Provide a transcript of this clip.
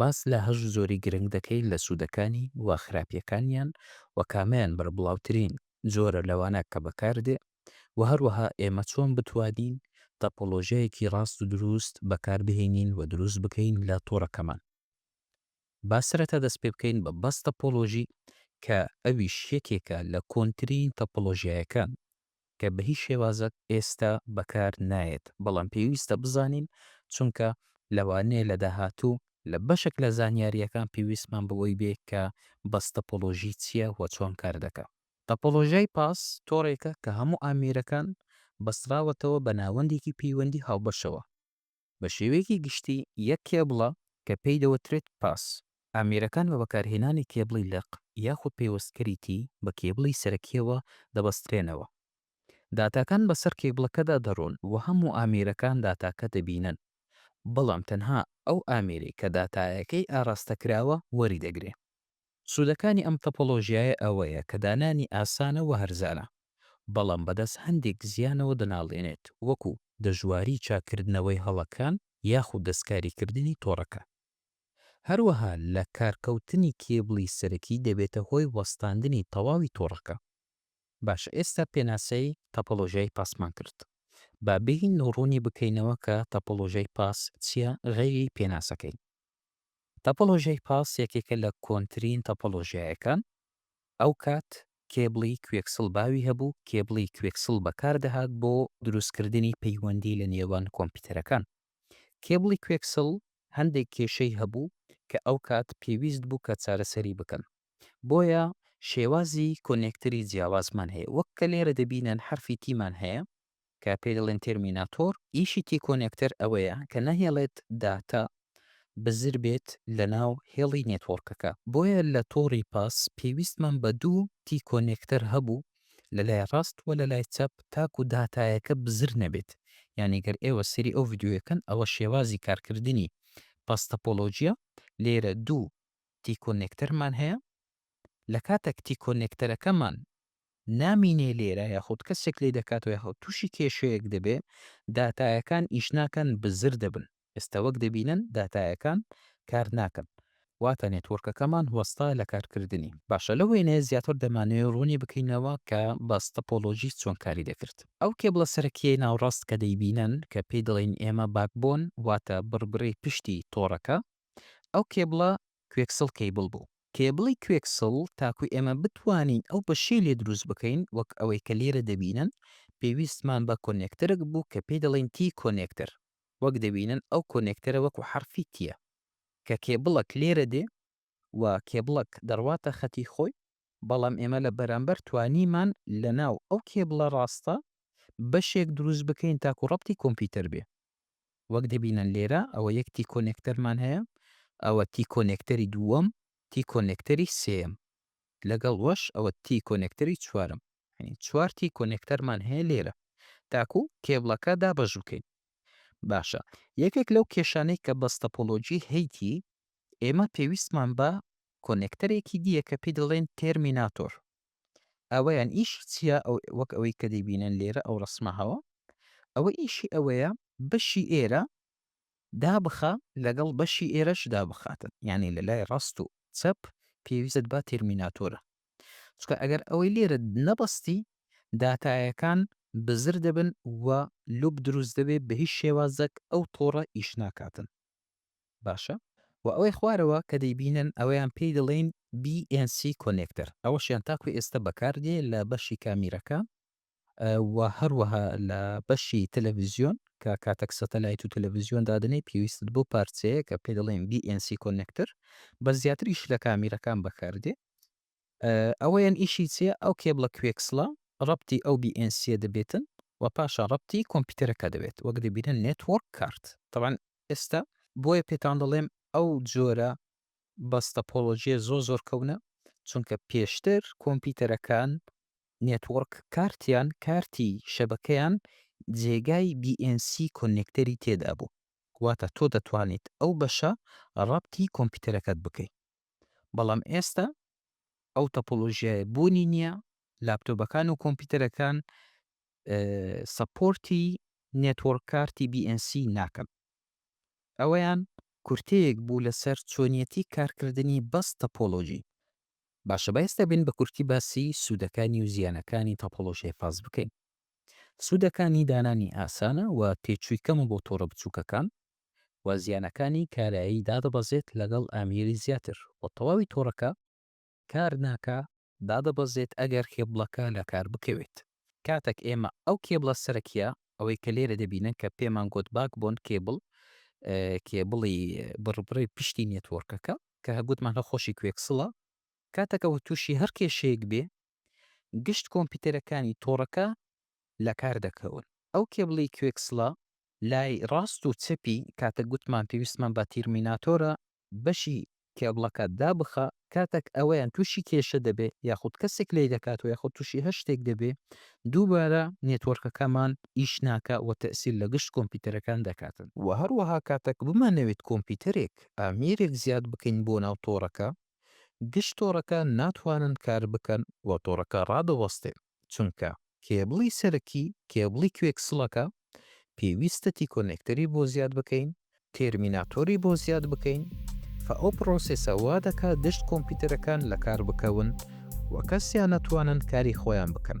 باس لە هەشت جۆری گرنگ دەکەین لە سوودەکانی و خراپییەکانیان و کامەیان بەربڵاوترین جۆرە لەوانە کە بەکاردێ و هەروەها ئێمە چۆن بتوانین تاپۆلۆژیایەکی ڕاست و دروست بەکاربهێنین و دروست بکەین لە تۆڕەکەمان. با سەرەتا دەست پێ بکەین بە باس تاپۆلۆژی کە ئەویش یەکێکە لە کۆنترین تاپۆلۆژیایەکان. کە بە هیچ شێوازەک ئێستا بەکار نایەت، بەڵام پێویستە بزانین، چونکە لەوانەیە لە داهاتوو لە بەشێک لە زانیارییەکان پێویستمان بەوەی بێ کە بەس تەپۆلۆژی چییە و چۆن کار دەکا. تەپۆلۆژیای پاس تۆڕێکە کە هەموو ئامێرەکان بەستراوەتەوە بە ناوەندێکی پەیوەندی هاوبەشەوە. بە شێوەیەکی گشتی یەک کێبڵە کە پێی دەوترێت پاس. ئامێرەکان بە بەکارهێنانی کێبڵی لق یاخود پەیوەستکەری تی بە کێبڵی سەرەکییەوە دەبەسترێنەوە. داتاکان بەسەر کێبڵەکەدا دەڕۆن و هەموو ئامێرەکان داتاکە دەبینن، بەڵام تەنها ئەو ئامێرەی کە داتایەکەی ئاراستەکراوە وەریدەگرێ. سوودەکانی ئەم تەپۆلۆژیایە ئەوەیە کە دانانی ئاسانە و هەرزانە، بەڵام بەدەست هەندێک زیانەوە دەناڵێنێت، وەکوو دەژواری چاککردنەوەی هەڵەکان یاخود دەستکاریکردنی تۆڕەکان. هەروەها لە کارکەوتنی کێبڵی سەرەکی دەبێتە هۆی وەستاندنی تەواوی تۆڕەکە. باشە ئێستا پێناسەی تەپۆلۆژیای پاسمان کرد، با بێین و ڕوونی بکەینەوە کە تەپۆلۆژیای پاس چییە غەیری پێناسەکەی. تۆپۆلۆژیای پاس یەکێکە لە کۆنترین تۆپۆلۆژیایەکان، ئەوکات کێبڵی کوێکسڵ باوی هەبوو، کێبڵی کوێکسڵ بەکاردەهات بۆ دروستکردنی پەیوەندی لە نێوان کۆمپیوتەرەکان. کێبڵی کوێکسڵ هەندێک کێشەی هەبوو کە ئەوکات پێویست بوو کە چارەسەری بکەن، بۆیە شێوازی کۆنێکتەری جیاوازمان هەیە، وەک کە لێرە دەبینن حەرفی تیمان هەیە، کە پێی دەڵێن تێرمیناتۆر، ئیشی تیکۆنێکتەر ئەوەیە کە نەهێڵێت داتا بزر بێت لەناو هێڵی نێتۆرکەکە، بۆیە لە تۆڕی پاس پێویستمان بە دوو تیکۆنێکتەر هەبوو لە لای ڕاست و لە لای چەپ تاکو داتایەکە بزر نەبێت، یانی گەر ئێوە سەیری ئەو ڤیدیۆیە کەن ئەوە شێوازی کارکردنی پاس تەپۆلۆجیە، لێرە دوو تیکۆنێکتەرمان هەیە لە کاتەک تیکۆنێکتەرەکەمان نامینێ لێرە یاخود کەسێک لێ دەکاتەوە یاخود توشی کێشەیەک دەبێ داتایەکان ئیش ناکەن بزر دەبن ئێستا وەک دەبینن داتایەکان کار ناکەن واتە نێتوۆرکەکەمان وەستا لە کار کردنی باشە لەو وێنەیە زیاتر دەمانەوێ ڕوونی بکەینەوە کە باس تەپۆلۆژی چۆن کاری دەکرد ئەو کێبڵە سەرەکیەی ناوڕاست کە دەیبینن کە پێی دەڵێین ئێمە باکبۆن واتە بڕبرەی پشتی تۆڕەکە ئەو کێبڵە کوێکسڵ کەیبڵ بوو. کێبڵی کوێکسڵ تاکو ئێمە بتوانین ئەو بەشەی لێ دروست بکەین وەک ئەوەی کە لێرە دەبینن پێویستمان بە کۆنێکتەرک بوو کە پێی دەڵێن تی کۆنێکتەر وەک دەبینن ئەو کۆنێکتەرە وەکو حەرفی تیە کە کێبڵەک لێرە دێ و کێبڵەک دەڕواتە خەتی خۆی بەڵام ئێمە لە بەرامبەر توانیمان لە ناو ئەو کێبڵە ڕاستە بەشێک دروست بکەین تاکو ڕەبتی کۆمپیوتەر بێ وەک دەبینن لێرە ئەوە یەک تی کۆنێکتەرمان هەیە ئەوە تی کۆنێکتەری دووەم تی کۆنێکتەری سێیەم لەگەڵ وەش ئەوە تی کۆنێکتەری چوارەم یعنی چوار تی کۆنێکتەرمان هەیە لێرە تاکو کێبڵەکە دابەش بکەین باشە یەکێک لەو کێشانەی کە بەستەپۆلۆجی هەیتی ئێمە پێویستمان بە کۆنێکتەرێکی دییە کە پێی دەڵێن تێرمیناتۆر ئەوەیان ئیشی چیە ئەو وەک ئەوەی کە دەیبینن لێرە ئەو ڕسمە هەوە ئەوە ئیشی ئەوەیە بەشی ئێرە دابخە لەگەڵ بەشی ئێرەش دابخاتن یعنی لە لای ڕاست و چەپ پێویست با تێرمیناتۆرە چکە ئەگەر ئەوەی لێرە نەبەستی داتایەکان بزر دەبن و لوب دروست دەبێت بە هیچ شێوازەک ئەو تۆڕە ئیش ناکاتن باشە وە ئەوەی خوارەوە کە دەیبینن ئەوەیان پێی دەڵێین BNC کۆنێکتەر ئەوەشیان تاکو ئێستا بەکار دێ لە بەشی کامیرەکە و هەروەها لە بەشی تەلەفزیۆن کە کاتەک سەتەلایت و تەلەفزیۆن دادەنێی پێویستت بۆ پارچەیە کە پێ دەڵێن BNC کۆنێکتەر بە زیاتریش لە کامیرەکان بەکار دێ ئەوەیەن ئیشی چیە ئەو کێبڵە کوێکسڵە ڕەپتی ئەو بی ئێن سیە دەبێتن و پاشان ڕەپتی کۆمپیتەرەکە دەبێت وەک دەبینن نێتوۆرک کارت تەبعەن ئێستا بۆیە پێتان دەڵێم ئەو جۆرە بەس تەپۆڵۆجیە زۆر زۆر کەونە چونکە پێشتر کۆمپیتەرەکان نێتوۆرک کارتیان کارتی شەبەکەیان جێگای بی ئێن سی کۆنێکتەری تێدا بوو واتە تۆ دەتوانیت ئەو بەشە ڕەپتی کۆمپیتەرەکەت بکەیت بەڵام ئێستا ئەو تەپۆلۆژیایە بوونی نییە، لاپتۆبەکان و کۆمپیوتەرەکان سەپۆرتی نێتۆرک کارتی BNC ناکەن. ئەوەیان کورتەیەک بوو لەسەر چۆنیەتی کارکردنی بەس تەپۆلۆژی. باشە با ئێستا بین بە کورتی باسی سوودەکانی و زیانەکانی تەپۆلۆژیای فاست بکەین. سوودەکانی دانانی ئاسانە و تێچووی کەمە بۆ تۆڕە بچووکەکان، و زیانەکانی کارایی دادەبەزێت لەگەڵ ئامێری زیاتر و تەواوی تۆڕەکە کار ناکا دادەبەزێت ئەگەر کێبڵەکە لەکار بکەوێت کاتەک ئێمە ئەو کێبڵە سەرەکیە ئەوەی کە لێرە دەبینن کە پێمان گۆت باک بۆن کێبڵ کێبڵی بڕبڕی پشتی نێتۆرکەکە کە هەگوتمان هە خۆشی کوێکسڵە کاتەکە و تووشی هەر کێشەیەک بێ گشت کۆمپیوتەرەکانی تۆڕەکە لەکار دەکەون ئەو کێبڵی کوێکسڵە لای ڕاست و چەپی کاتەک گوتمان پێویستمان بە تیرمیناتۆرە بەشی کێبڵەکە دابخە کاتەک ئەوەیان توشی کێشە دەبێ یاخود کەسێک لی دەکاتەوە یاخود توشی هەر شتێک دەبێ دووبارە نێتۆرکەکەمان ئیش ناکا وە تەئسیر لە گشت کۆمپیتەرەکان دەکاتن. وە هەروەها کاتەک بمانەوێت کۆمپیتەرێک ئامێرێک زیاد بکەین بۆ ناو تۆڕەکە گشت تۆڕەکان ناتوانن کار بکەن وە تۆڕەکە ڕادەوەستێن. چونکە کێبڵی سەرەکی کێبڵی کوێکسڵەکە پێویستە تیکۆنێکتەری بۆ زیاد بکەین تێرمیناتۆری بۆ زیاد بکەین فە ئەو پڕۆسێسە وا دەکات گشت کۆمپیوتەرەکان لەکار بکەون و کەسیان نەتوانن کاری خۆیان بکەن.